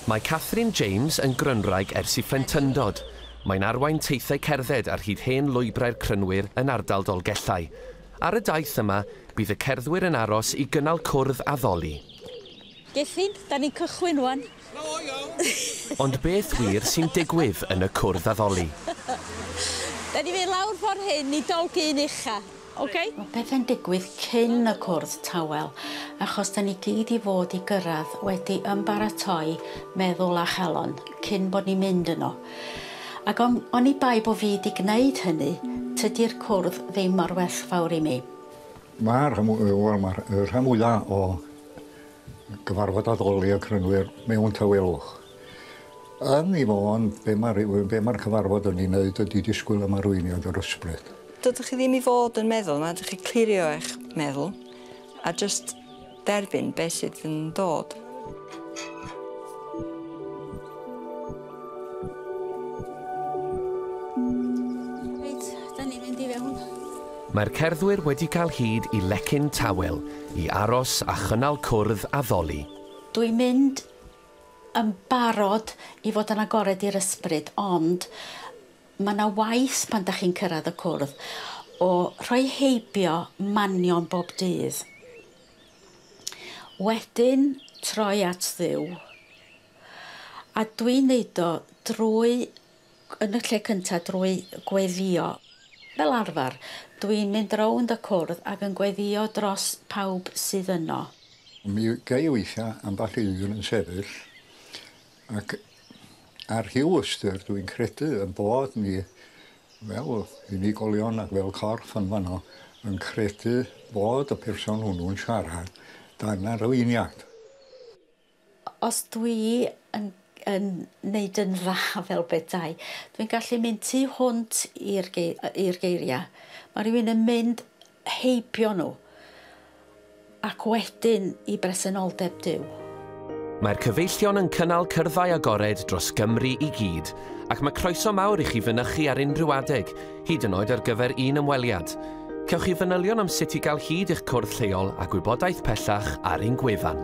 Mae Catherine James yn Grynwraig ers i phlentyndod. Mae'n arwain teithiau cerdded ar hyd hen lwybrau'r Crynwyr yn ardal Dolgellau. Ar y daith yma, bydd y cerddwyr yn aros i gynnal cwrdd a ddoli. Gethin, da ni'n cychwyn ŵan. Ond beth wir sy'n digwydd yn y cwrdd a ddoli? Da ni'n mynd lawr ffordd hyn i Dolgyn Ucha. Ok. Mae pethau'n digwydd cyn y cwrdd tawel, achos da ni gyd i fod i gyrraedd wedi ymbaratoi meddwl a chalon cyn bod ni'n mynd yno. Ac on, oni bai bo fi di gwneud hynny, tydi'r cwrdd ddim mor werthfawr i mi. Mae'r rhan, wel, mae'r rhan fwyaf o gyfarfod addoli y crynwyr mewn tawelwch. Yn ei fôn, be mae rhywun, be mae'r cyfarfod yn ei wneud ydy disgwyl am arweiniad yr ysbryd. Dydych chi ddim i fod yn meddwl, mae rhaid i chi clirio eich meddwl a jyst derbyn beth sydd yn dod. Mae'r cerddwyr wedi cael hyd i lecyn tawel i aros a chynnal cwrdd a ddoli. Dwi'n mynd yn barod i fod yn agored i'r ysbryd ond ma' 'na waith pan 'dach chi'n cyrradd y cwrdd o rhoi heibio manion bob dydd wedyn troi at Dduw a dwi'n neud o drwy yn y lle cyntaf drwy gweddïo. Fel arfer, dw i'n mynd rownd y cwrdd ac yn gweddïo dros pawb sydd yno. Mi gai weithiau ambell i un yn sefyll ac ar rhyw ystyr dw i'n credu ein bod ni fel unigolion ac fel corff yn fanno yn credu bod y person hwnnw'n siarad dan arweiniad. Os dwi yn yn neud yn dda fel petai, dwi'n gallu mynd tu hwnt i'r gei- yy i'r geiria'. Ma' rywun yn mynd heibio nhw ac wedyn i bresenoldeb Duw. Mae'r cyfeillion yn cynnal cyrddau agored dros Gymru i gyd, ac mae croeso mawr i chi fynychu ar unrhyw adeg hyd yn oed ar gyfer un ymweliad. Cewch chi fanylion am sut i gael hyd i'ch cwrdd lleol a gwybodaeth pellach ar ein gwefan.